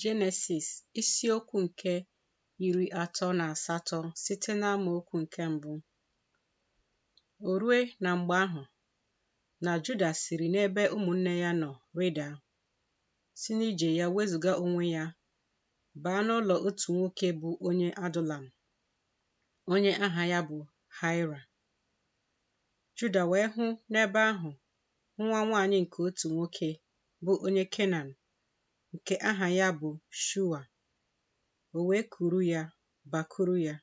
Jenesis isiokwu nke iri atọ na asatọ site n'amaokwu nke mbụ o rue na mgbe ahụ na Juda siri n'ebe ụmụnne ya nọ rịda si n'ije ya wezụga onwe ya baa n'ụlọ otu nwoke bụ onye Adulam onye aha ya bụ Haira Juda wee hụ n'ebe ahụ nwa nwaanyị nke otu nwoke bụ onye Kenan nke aha ya bụ Shua. O wee kuru ya bakuru ya.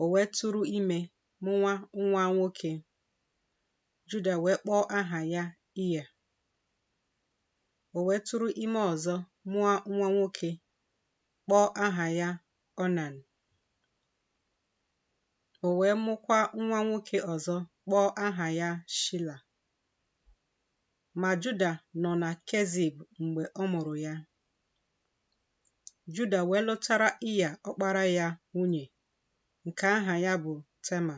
O wee tụrụ ime mụa nwa nwoke. Juda wee kpọọ aha ya Iya. O wee tụrụ ime ọzọ mụọ nwa nwoke, kpọọ aha ya Onan. O wee mụkwa nwa nwoke ọzọ kpọọ aha ya Shila. Ma Juda nọ na Kezib mgbe ọ mụrụ ya. Juda wee lụtara Iya ọkpara ya nwunye nke aha ya bụ Tema.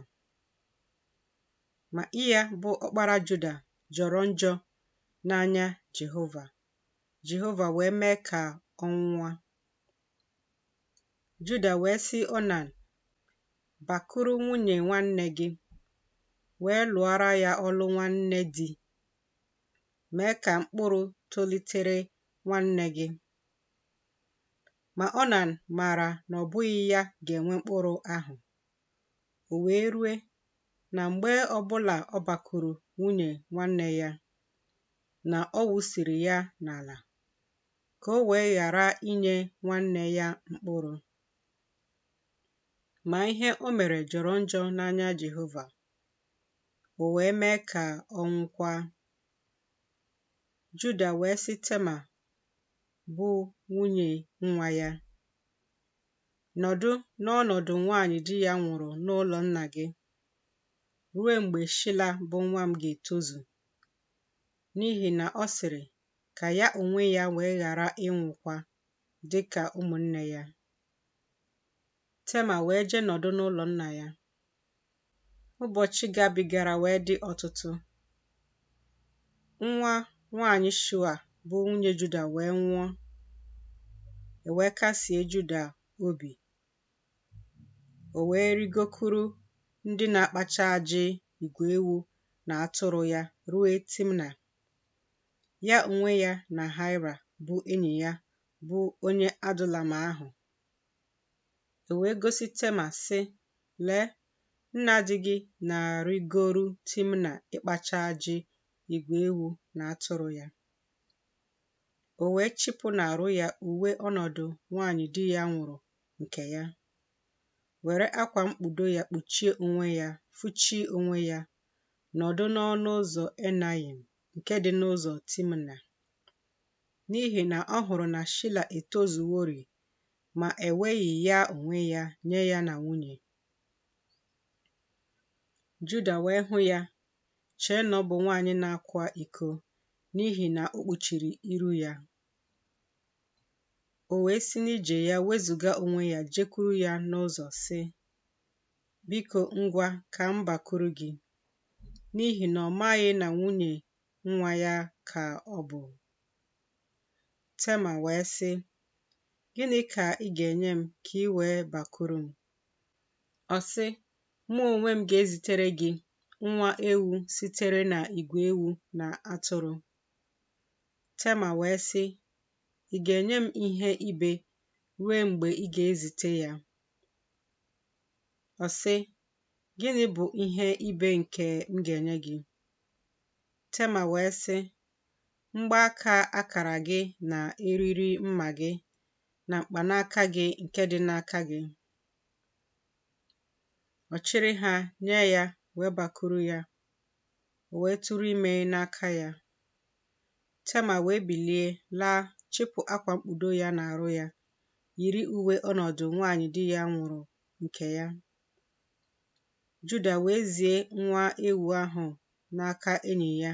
Ma Iya bụ ọkpara Juda jọrọ njọ n'anya Jehova. Jehova wee mee ka ọ nwụọ. Juda wee sị Onan, Bakuru nwunye nwanne gị, wee lụọra ya ọlụ nwanne di, mee ka mkpụrụ tolitere nwanne gị. Ma Onan maara na ọ bụghị ya ga-enwe mkpụrụ ahụ. O wee rue na mgbe ọbụla ọ bakuru nwunye nwanne ya, na ọ wụsịrị ya n'ala. ka o wee ghara inye nwanne ya mkpụrụ. Ma ihe o mere jọrọ njọ n'anya Jehova, o wee mee ka ọ nwụkwa. Juda wee sị Tema, bụ nwunye nwa ya, Nọdụ n'ọnọdụ nwaanyị di ya nwụrụ n'ụlọ nna gị ruo mgbe Shila bụ nwa m ga-etozu, n'ihi na ọ sịrị, ka ya onwe ya wee ghara ịnwụkwa dị ka ụmụnne ya. Tema wee jee nọdụ n'ụlọ nna ya. Ụbọchị gabigara wee dị ọtụtụ. Nwa nwaanyị Shua bụ nwunye Juda wee nwụọ, e wee kasie Juda obi. O wee rịgokuru ndị na-akpacha ajị igwe ewu na atụrụ ya ruo Timna. Ya onwe ya na Haịra bụ enyi ya bụ onye Adulam ahụ. E wee gosi Tema, sị, Lee, nna di gị na-arịgoru Timna ịkpacha ajị igwe ewu na atụrụ ya. O wee chịpụ n'arụ ya uwe ọnọdụ nwaanyị di ya nwụrụ nke ya, were akwa mkpudo ya kpuchie onwe ya, fụchie onwe ya, nọdụ n'ọnụ ụzọ Enayim nke dị n'ụzọ Timna, n'ihi na ọ hụrụ na Shila etozuworị, ma eweghị ya onwe ya nye ya na nwunye. Juda wee hụ ya, chee na ọ bụ nwaanyị na-akwa iko, n'ihi na o kpuchiri iru ya. O wee si n'ije ya wezụga onwe ya jekwuru ya n'ụzọ, sị, Biko ngwa ka m bakuru gị, n'ihi na ọ maghị na nwunye nwa ya ka ọ bụ. Tema wee sị, Gịnị ka ị ga-enye m ka i wee bakuru m? Ọ sị, Mụ onwe m ga-ezitere gị nwa ewu sitere na igwe ewu na atụrụ. Tema wee sị, Ị ga-enye m ihe ibe rue mgbe ị ga-ezite ya. Ọ sị, Gịnị bụ ihe ibe nke m ga-enye gị? Tema wee sị, Mgbaaka akara gị na eriri mma gị na mkpanaka gị nke dị n'aka gị. Ọ chịrị ha nye ya wee bakuru ya, o wee tụrụ ime n'aka ya. Tema wee bilie laa chịpụ akwa mkpudo ya n'arụ ya yiri uwe ọnọdụ nwaanyị di ya nwụrụ nke ya. Juda wee zie nwa ewu ahụ n'aka enyi ya,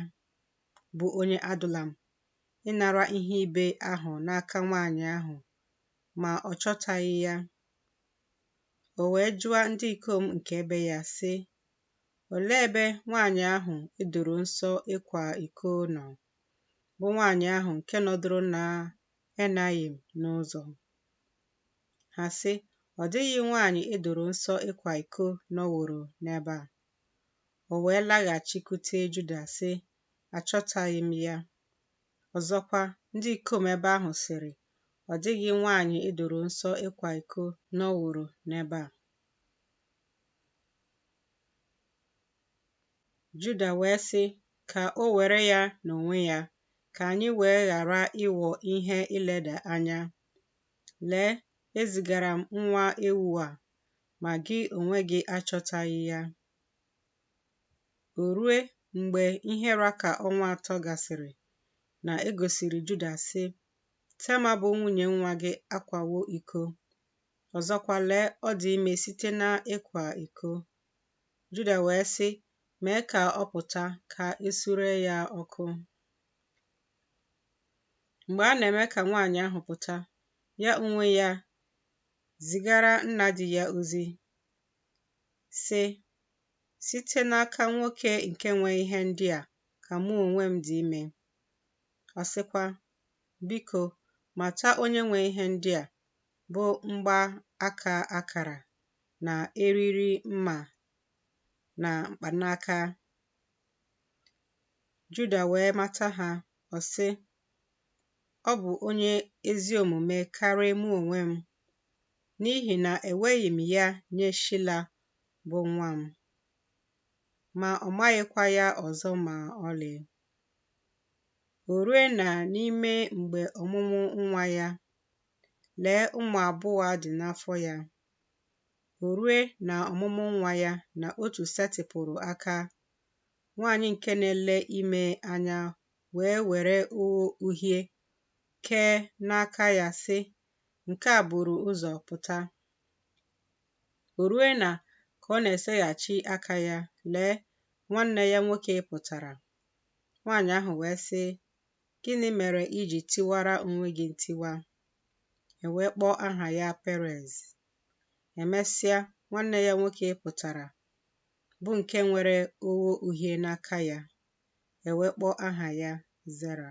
bụ onye Adulam, ịnara ihe ibe ahụ n'aka nwaanyị ahụ, ma ọ chọtaghị ya. O wee jụa ndị ikom nke ebe ya, sị, Olee ebe nwaanyị ahụ e doro nsọ ịkwa iko nọ, bụ nwaanyị ahụ nke nọdụrụ na Enayim n'ụzọ. Ha sị, Ọ dịghị nwaanyị e doro nsọ ịkwa iko nọworo n'ebe a. O wee laghachikwute Juda sị, Achọtaghị m ya. Ọzọkwa, ndị ikom ebe ahụ sịrị, Ọ dịghị nwaanyị e doro nsọ ịkwa iko nọworo n'ebe a. Juda wee sị, Ka o were ya n'onwe ya, ka anyị wee ghara ịghọ ihe ileda anya. Lee, ezigara m nwa ewu a, ma gị onwe gị achọtaghị ya. O rue mgbe ihe ra ka ọnwa atọ gasịrị na e gosiri Juda, sị, Tema bụ nwunye nwa gị akwawo iko. Ọzọkwa, lee, ọ dị ime site n'ịkwa iko. Juda wee sị, Mee ka ọ pụta ka e suree ya ọkụ. Mgbe a na-eme ka nwaanyị ahụ pụta, ya onwe ya zigara nna di ya ozi, sị, Site n'aka nwoke nke nwe ihe ndị a ka mụ onwe m dị ime. Ọ sịkwa, Biko, mata onye nwe ihe ndị a, bụ mgba aka akara na eriri mma na mkpanaka. Juda wee mata ha, ọ sị, Ọ bụ onye ezi omume karịa mụ onwe m, n'ihi na eweghị m ya nye Shila bụ nwa m. Ma ọ maghịkwa ya ọzọ ma ọlị. O rue na n'ime mgbe ọmụmụ nwa ya, lee ụmụ abụọ dị n'afọ ya. O rue na ọmụmụ nwa ya na otu setịpụrụ aka, nwaanyị nke na-ele ime anya wee were ogho uhie kee n'aka ya sị, Nke a buru ụzọ pụta. O rue na ka ọ na-eseghachi aka ya, lee, nwanne ya nwoke pụtara. Nwaanyị ahụ wee sị, Gịnị mere i ji tiwara onwe gị ntiwa? e wee kpọọ aha ya Perez. Emesịa, nwanne ya nwoke pụtara, bụ nke nwere ogho uhie n'aka ya, e wee kpọọ aha ya Zera.